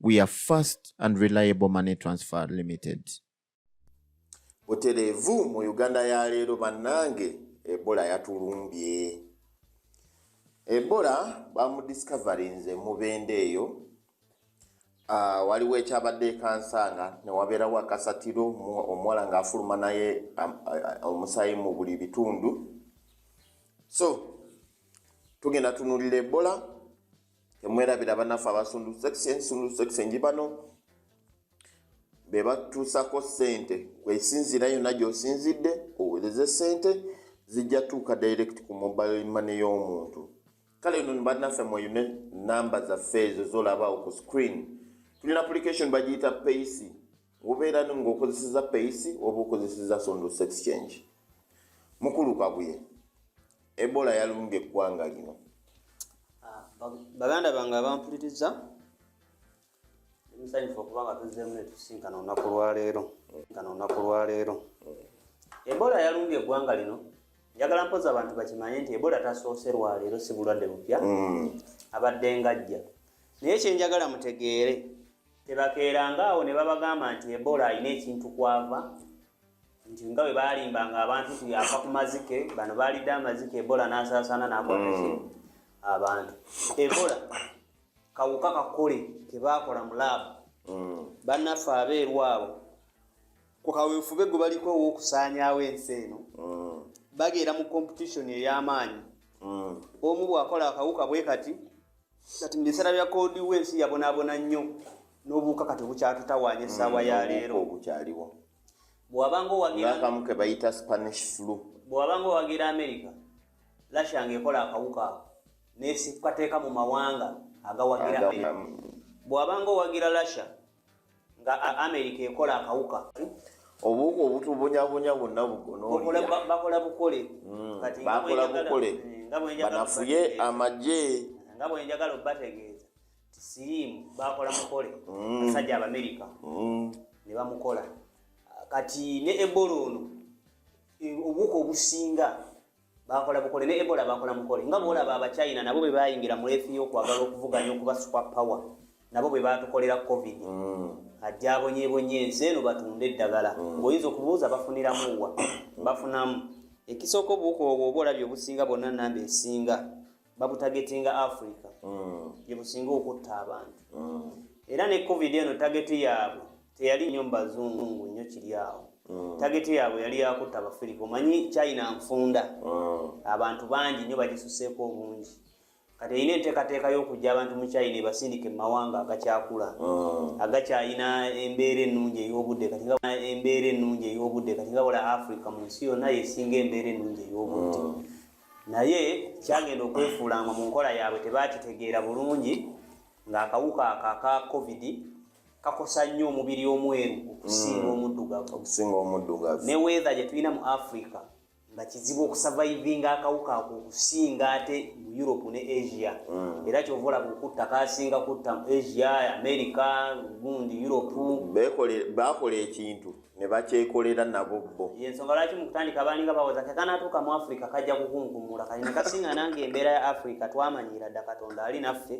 we are fast and reliable money transfer limited butelevu mu uganda ya leero bannange ebola yatulumbye ebola bamudiscoverinze mubende eyo uh, waliwo ekyabadde ekansanga newabeerawo akasatiro omuwala ngaafuluma naye um, uh, omusayi mu buli bitundu so tugenda tunulira ebola temwerabira banaffe abasundu section sundu section gibano bebatuusako sente kwesinziira yonna gyosinzidde owereze sente zijja tuuka direct ku mobile money y'omuntu kale no banaffe mweyune namba zaffe ezo zolaba oku screen tulina application bagiyita payc Obeera ng'okozeseza peyisi oba okozeseza sondo sex change. Mukulu Kabuye, Ebola yalumbye eggwanga lino. Ah, baganda bange abampuliriza musanyufu okuba nga tuzzeemu netusinkana olunaku lwaleero nkana olunaku lwaleero ebola yalumbye eggwanga lino njagala mpoza abantu bakimanye nti ebola tasoose lwaleero si bulwadde bupya mm. abadde ngajja naye kyenjagala mutegeere Tebakeeranga awo ne babagamba nti Ebola alina ekintu kwava nti nga bwe baalimbanga abantu nti yaafa ku mazike bano baalidde amazike Ebola n'asaasaana n'akwataki mm. abantu Ebola kawuka kakole ke baakola mu laabu mm. bannaffe abeeru abo ku kaweefube gwe baliko ow'okusaanyaawo ensi eno mm. bageera mu kompetitioni ey'amaanyi omu bw'akola akawuka bwe kati kati mu biseera bya koodi we ensi yabonaabona nnyo n'obuwuka kati obukyatutawaanya essaawa ya mm, leero obukyaliwo bwewabanga owagirakamu ke bayita spanish flu bwewabanga owagira amerika lasha nga ekola akawuka ako nekateeka mu mawanga agawagira bwewabanga owagira lasha nga america ekola akawuka obuwuka obutubunyabunya bwonna bugonobakola bukole hmm, bakola bukole eh, banafuye amagye nga bwenjagala obategeeza siriimu bakola mukole hmm. basajja abamerika hmm. ne bamukola kati ne ebola ono eh, obuwuka obusinga bakola bukole ne ebola bakola mukole nga bwolaba abachina nabo bwe bayingira mu leefi y'okwagala okuvuganya okuba super power nabo bwe batukolera covid mm. ajja abonyebonye ensi eno batunde eddagala mm. ng'oyinza okubuuza bafuniramu wa bafunamu ekisooka obuwuka obwo oba olabye obusinga bonna namba esinga babutagetinga africa mm. gyebusinga okutta abantu mm. era ne covid eno tageti yaabwe teyali nyo mubazungu nyo kiri awo mm. tageti yaabwe yali yakutta abafirika omanyi china nfunda abantu bangi nyo bagisuseeko obungi kati erina enteekateeka y'okujja abantu mu china ebasindika emumawanga agakyakula agakyalina embeera ennungi ey'obudde kati embeera ennungi ey'obudde kati nga wala africa mu nsi yonna yesinga embeera ennungi ey'obudde naye kyagenda okwefuula nga mu nkola yaabwe tebakitegeera bulungi ng'akawuka ako aka covid kakosa nnyo omubiri omweru okusinga mm. omuddugavu okusinga omuddugavu ne weather gye tulina mu africa nga kizibu okusavaivinga akawuka ako okusinga ate mu europe ne asia mm. era kyova olaba okutta kasinga kutta asia america gundi europe bakola ekintu ne bakyekolera nabo bo yensonga lwaki mu kutandika baalinga bawoza kekanatuuka mu afrika kajja kukunkumula kati ne kasinga nange embeera ya afrika twamanyiira dda katonda ali naffe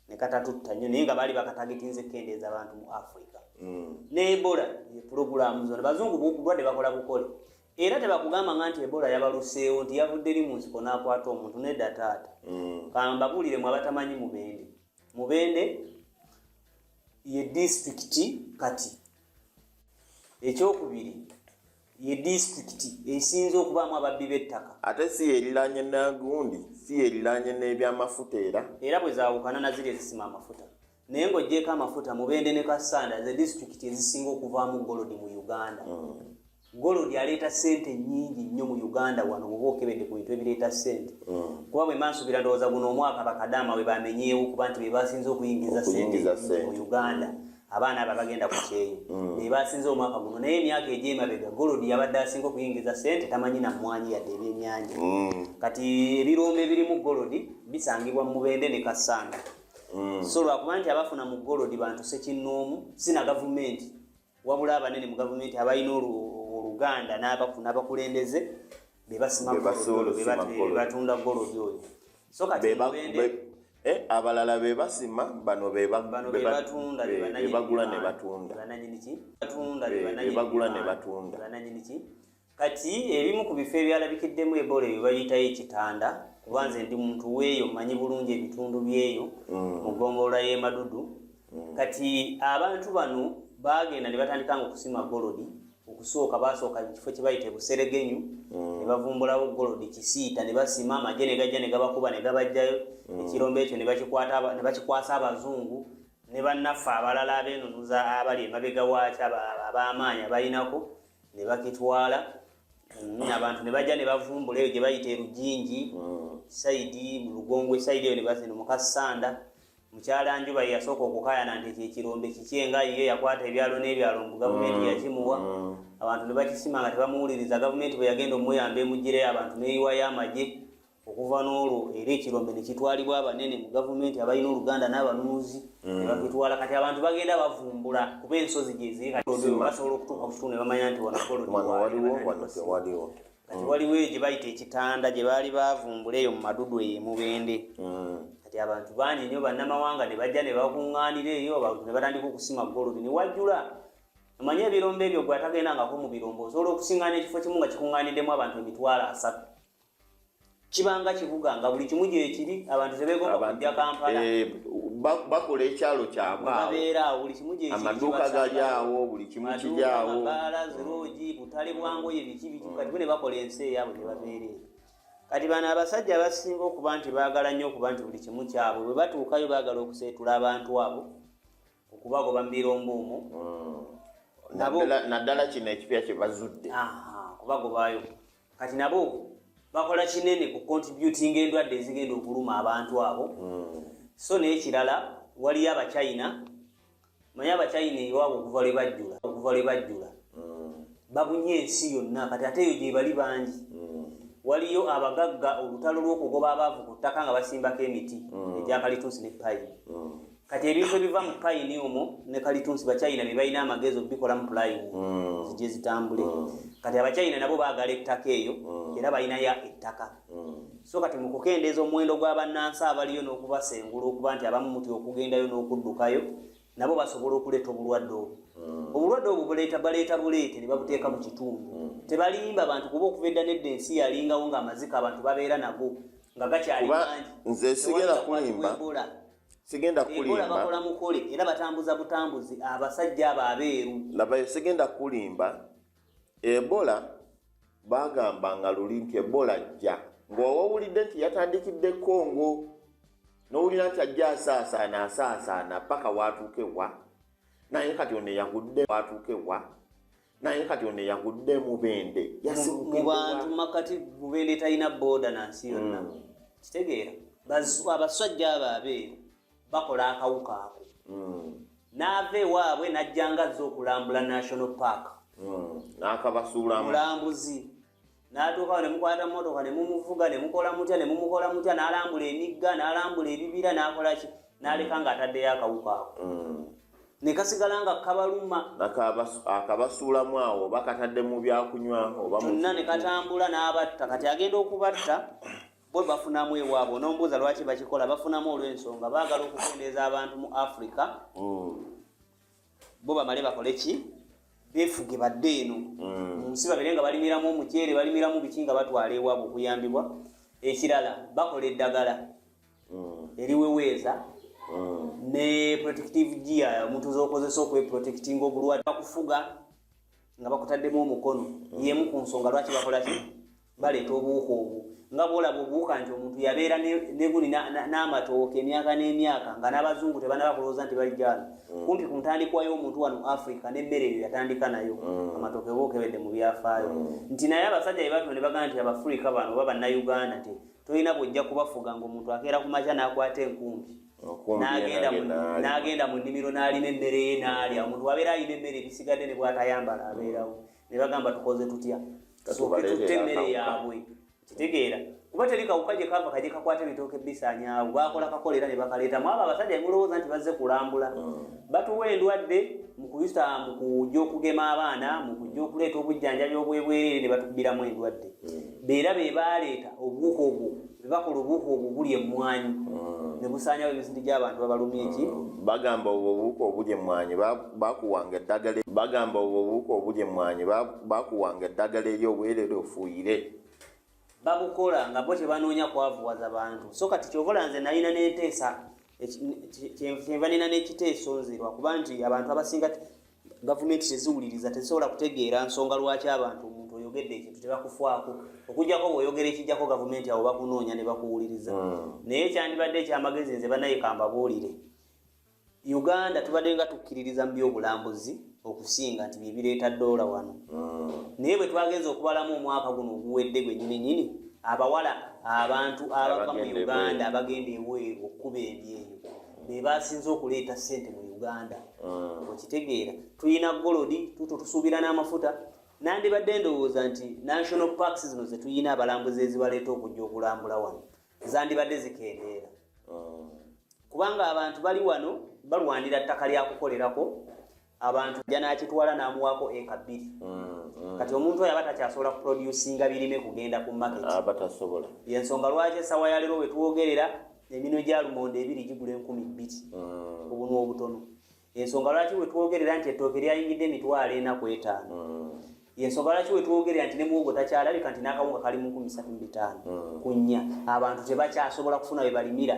ne katatutta nnyo naye nga baali bakatagitinza ekkendeeza abantu mu afrika mm. ne ebola pulogulaamu zona bazungu bulwadde bakola bukole era tebakugamba nga nti ebola yabaluseewo nti yavudde eri mu nsiko n'akwata omuntu nedda taata mm. kambabuulire mu abatamanyi mubende mubende ye disitulikiti kati ekyokubiri ye disitulikiti esinze okubaamu ababbi b'ettaka ate si yeeriraanye nagundi si yeeriraanye n'ebyamafuta era era bwe zaawukana na ziri ezisima amafuta naye ng'ogyeko amafuta mubende ne kassanda ze disitulikiti ezisinga okuvaamu golodi mu uganda mm. Gold aleeta sente nyingi nnyo mu Uganda wano bwoba okebedde ku bintu ebireeta sente mm. kuba bwe mansubira ndowooza guno omwaka bakadaama we bamenyeewo kuba nti be basinze okuyingiza sente mu Uganda abaana abo abagenda ku kyeyo mm. be basinze omwaka guno naye emyaka egy'emabega Gold yabadde asinga okuyingiza sente tamanyi na mmwanyi yadde ebyennyanja mm. kati ebirombe ebirimu Gold bisangibwa mu Mubende ne Kassanda so lwakuba nti abafuna mu Gold bantu sekinnoomu si na gavumenti wabula abanene mu gavumenti abalina oluganda n'abakulembeze bebasimabatunda golodi oyo eh, abalala bebasima bano bebagula nebatundabagula nebatunda kati ebimu ku bifo ebyalabikiddemu ebola ebyo bayitayo ekitanda kuba nze ndi muntu weeyo manyi bulungi ebitundu byeyo mm. mu gombolola y'emadudu mm. kati abantu bano baagenda ne batandika nga okusima golodi okusooka basooka ekifo kye bayita ebuseregenyu mm. ne bavumbulawo golodi kisiita ne basima amagye ne gajja ne gabakuba ne gabajjayo ekirombo ekyo ne bakikwasa abazungu ne bannaffe abalala abeenunuza abali emabega waakyo ab'amaanyi abalinako ne bakitwala mm, abantu ne bajja ne bavumbula eyo gye bayita erujingi mm. saidi mu lugongo esaidi eyo ne bazino mukasanda mukyala njuba yeyasooka okukayana nti ekyo ekirombe kiki enga yiyo yakwata ebyalo n'ebyalo mbu gavumenti mm. yakimuwa abantu ne bakisima nga tebamuwuliriza gavumenti bwe yagenda omuyamba emugireyo abantu neyiwayo amagye okuva n'olwo era ekirombe ne kitwalibwa abanene mu gavumenti abalina oluganda n'abanunuzi ne mm. bakitwala kati abantu bagenda bavumbula kuba ensozi gyeziri katibasobola okutuuka ku kitundu ne bamanya nti wanagolodiwaliwo kati waliwo eyo gye bayita ekitanda gye baali bavumbula eyo mu madudu eyo emubende mm. kati abantu bangi nnyo bannamawanga ne bajja ne bakuŋŋaanira eyo abantu ne batandika okusima golodi ne wajjula omanye ebirombo ebyo gwe atagendangako mu birombo osobola okusiŋŋaana ekifo kimu nga kikuŋŋaaniddemu abantu emitwalo asatu kibanga kibuga nga buli kimu gyekiri abantu tebegomba kujja kampala eh, bakola ekyalo kyabweamaduuka gali awo buli kimu kiryawo ziroogi butale bwangoye biki biki kati bune bakola ensi eyabwe tebabeere kati bano abasajja abasinga okuba nti baagala nnyo okuba nti buli kimu kyabwe bwe batuukayo baagala okuseetula abantu abo okubagoba mu birombo omwo hmm. naddala kino ekipya kye bazudde kubagobayo kati nabo bakola kinene ku contributing endwadde ezigenda okuluma abantu abo mm. so n'ekirala waliyo abachina manye abachina ewabo okuva lwe bajjula okuva lwe bajjula mm. babunye ensi yonna kati ate eyo gyebali bangi mm. waliyo abagagga olutalo lw'okugoba abaavu ku ttaka nga basimbako emiti mm. egyakalituusi ne payi mm. kati ebintu ebiva mu payini omwo ne kalitunsi bachina bebalina amagezi okubikolamu pulayimu mm. zije zitambule mm. kati abachina nabo bagala ettaka eyo mm. era balinayo ettaka so kati mukukendeeza omuwendo gwabannansi abaliyo n'okubasengula okuba nti abamu muti okugendayo n'okuddukayo nabo basobola okuleeta obulwadde obwo obulwadde obwo buleeta baleeta buleete ne babuteeka mu kitundu tebalimba bantu kuba okuva edda nedda ensi yalingawo ng'amazika abantu babeera nago nga gakyali mangi nze sigera kulimba sigenda kulimba bakola mukole era batambuza butambuzi abasajja abo abeeru labayo sigenda kulimba ebola bagamba nga luli nti ebola ajja ng'owawulidde nti yatandikidde kongo nowulira nti ajja asaasaana asaasaana paka watuukewa naye kati ono eyagudde watuukewa naye kati ono eyagudde mubende mubantu makati mubende talina boda nansi yonna mm. kitegeera abasajja abo abeeyo bakola akawuka ako mm. naava ewaabwe najjanga zza okulambula national park mm. nakabasuulamu mulambuzi n'atuukawo ne mukwata mmotoka ne mumuvuga ne mukola mutya ne mumukola mutya n'alambula emigga n'alambula ebibira n'akola ki n'aleka ng'ataddeyo akawuka ako mm. ne kasigala nga kabaluma akabasuulamu awo oba katadde mu byakunywa oba kyonna ne katambula n'abatta kati agenda okubatta bo bafunamu ewaabwe onombuuza lwaki bakikola bafunamu olw'ensonga baagala okukendeeza abantu mu afrika mm. bo bamale bakole ki befuge badde eno mm. munsi babere nga balimiramu omuceere balimiramu biki nga batwala ewabwe okuyambibwa ekirala bakola eddagala mm. eriweweeza mm. ne protective gia omuntu zokozesa okweprotectinga obulwadde bakufuga nga bakutaddemu omukono yemu ku nsonga lwaki bakolaki baleeta obuwuka obwo nga bwolaba obuwuka nti omuntu yabeera neguni n'amatooka emyaka n'emyaka nga n'abazungu tebanaba kulowooza nti bali gyalo mm. kumpi ku ntandikwa y'omuntu wano africa n'emmere eyo yatandika nayo mm. amatooka eba okebedde mu byafaayo mm. nti naye abasajja bebatuma ne bagamba nti abafrica bano oba bannayuganda nti tolina bwojja kubafuga ngaomuntu akeera ku makya n'akwata enkumbi n'agenda mu nnimiro n'alima emmere ye n'alya omuntu wabeera alina emmere ebisigadde ne bwatayambala abeerawo ne bagamba tukoze tutya tusooke tutte emmere yaabwe kitegeera kuba teri kawuka gye kava kaje kakwata ebitooke bisanyawo bakola kakola era ne bakaleeta mwabo abasajja mulowooza nti bazze kulambula mm. batuwa endwadde mu kuyisa mu kujja okugema abaana mu kujja okuleeta obujjanjabi obwebwereere ne batubbiramu endwadde mm. beera be baleeta obuwuka obwo bwebakola obuuka obwo obuli emmwanyi hmm. ne busaanyawo emisinti gy'abantu babalumya eki hmm. bagamba obwo obuuka obuli emmwanyi bakuwanga eddagala bagamba obwo obuuka obuli emmwanyi bakuwanga eddagala eri obwerere ofuuyire babukola nga bo tebanoonya kwavuwaza bantu so kati kyovola nze nalina n'enteesa kyenva nina n'ekiteeso nze lwakuba nti abantu abasinga gavumenti teziwuliriza tezisobola kutegeera nsonga lwaki abantu omuntu oyogedde ekintu tebakufaako okujjako ngaoyogera ekijjako gavumenti awo bakunoonya ne bakuwuliriza hmm. naye kyandibadde ekyamagezi nze banaye kambabuulire uganda tubadde nga tukkiririza mu byobulambuzi okusinga nti byebireeta doola wano hmm. naye bwe twagenza okubalamu omwaka guno oguwedde gwenyini nyini abawala abantu abava mu uganda abagenda ebweru okukuba ebyeyo bebasinze okuleeta sente mu uganda mm. okitegeera tulina golodi tuto tusuubira n'amafuta nandibadde ndowooza nti national parks zino zetulina abalambuzi ezibaleeta okujja okulambula wano zandibadde zikendeera mm. kubanga abantu bali wano balwanira ttaka lyakukolerako abantu ja n'akitwala n'amuwaako eka bbiri mm, mm. kati omuntu oyo aba takyasobola kuproducinga birime kugenda ku market aba tasobola yensonga lwaki esawa yaleero wetwogerera eminwe gya lumonde ebiri gigula enkumi bbiri mm. obunwa obutono ensonga lwaki wetwogerera nti ettooke lyayingidde emitwalo ena ku etaano yensonga lwaki wetwogerera nti ne muwogo takyalabika nti n'akawunga kali mu nkumi satu mu bitaano ku nnya abantu tebakyasobola kufuna we balimira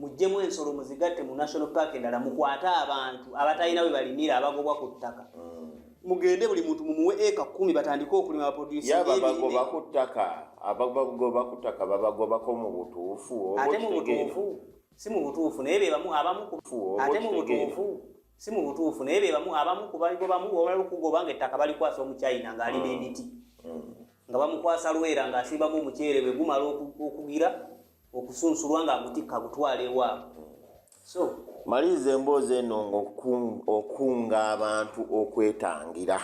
mujjemu ensolo muzigatte mu national park endala mukwate abantu abatalina bwe balimira abagobwa ku ttaka mm. mugende buli muntu mumuwe eka kumi batandike okulima baproducebabagoba ku ttaka abagoba ku ttaka babagobako mu butuufu ate mu butuufu si mu butuufu naye bebamu abamu ate mu butuufu si mu butuufu naye bebamu abamu kubagobamu wabala okugoba nga ettaka balikwasa omuchina ng'alina mm. emiti mm. nga bamukwasa lwera ng'asimbamu omuceere bwe gumala okugira okusunsulwa nga agutikka agutwala ewaabwe so maliriza emboozi eno ngaokunga abantu okwetangira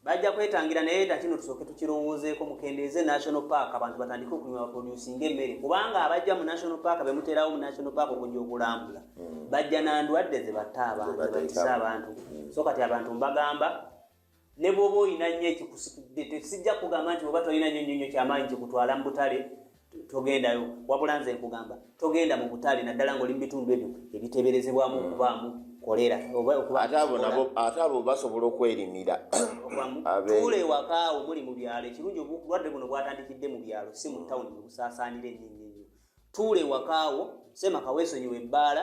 bajja kwetangira naye ta kino tusooke tukirowoozeeko mukendeeze national park abantu batandike okulima baproducinga emmere kubanga abajja mu national park bemuterawo mu national park okujja okulambula hmm. bajja nandwadde zebatta abantu zebatisa abantu hmm. so kati abantu mbagamba ne bwoba olina nnyo ekikusitudde tesijja kugamba nti oba tolina nyo nyonyo kyamaanyi kikutwala mu butale togendayo wabula nze nkugamba togenda mu butale naddala ngaoli mu bitundu ebyo ebiteberezebwamu hmm. okubaamu kolera ate abo basobola okwerimira tuula ewakaawo muli mu byalo ekirungi obulwadde buno bwatandikidde mu byalo si mu tawuni bwebusaasaanira ennyinnyinyo tuula ewakaawo semaka weesonyiwa ebbaala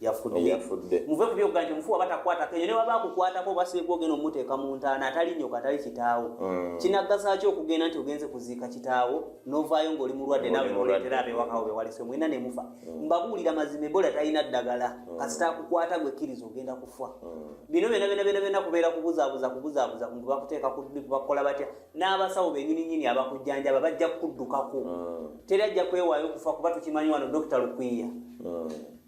yafudde muve ku byogga nti omufu waba takwata kenyo ne waba akukwatako oba siibwa ogenda omuteeka mu ntaana atali nyoka atali kitaawo mm. kinaggasa ki okugenda nti ogenze kuziika kitaawo novaayo ng'oli mulwadde nawe noleetera abewakawo bewalise mwena ne mufa mm. mbabuulira mazima ebola talina ddagala mm. kasita akukwata gwe kkiriza ogenda kufa bino byona byona byona byona kubeera kubuzaabuza kubuzaabuza ngu bakuteeka kubakola batya n'abasawo benyini nyini abakujjanjaba bajja kukuddukako teri ajja kwewaayo okufa kuba tukimanyi wano dokita lukwiya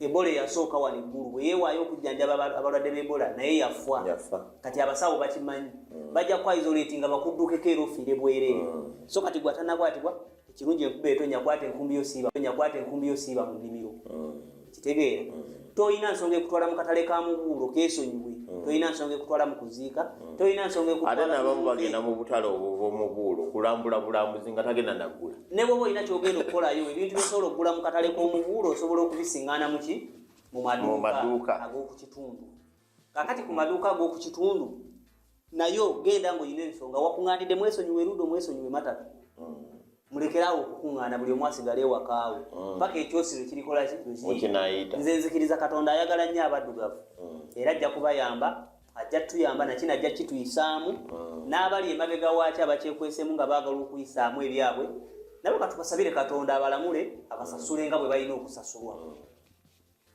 ebola eyasooka wano eggulu bwe yeewaayo okujjanjaba abalwadde b'ebola naye yafa kati abasawo bakimanyi mm. bajja kukwaizoleeti nga bakuddukeko era ofiire bwereere mm. so kati gwatanakwatibwa ekirungi enkuba etonya kwata enkumbi yo siiba tonya kwata enkumbi yo siiba mu nnimiro mm. kitegeera tolina nsonga ekutwala mu katale ka mubuulo keesonyiwe tolina nsonga ekutwala mu kuziika mm. tolina nsonga ate nabamu bagenda mu butale obwomubuulo kulambula bulambuzi nga tagenda naggula ne bwoba olina kyogenda okukolayo ebintu byosobola okugula mu katale k'omubuulo osobola okubisingana muki mu maduuka ag'okukitundu kakati ku maduuka ag'okukitundu nayo genda ngaolina ensonga wakuŋandidde mwesonyiwe erudo mwesonyiwe matatu mm. mulekeraawo okukuŋŋaana buli omu asigala ewakaawe mm. paka ekyosi lwe kirikola kikinayiita nze nzikiriza katonda ayagala nnyo abaddugavu mm. era ajja kubayamba ajja tuyamba nakino ajja kituyisaamu mm. n'abali emabega waaki abakyekwesemu nga baagala okuyisaamu ebyabwe nabo katukasabire katonda abalamule abasasule nga bwe balina okusasulwa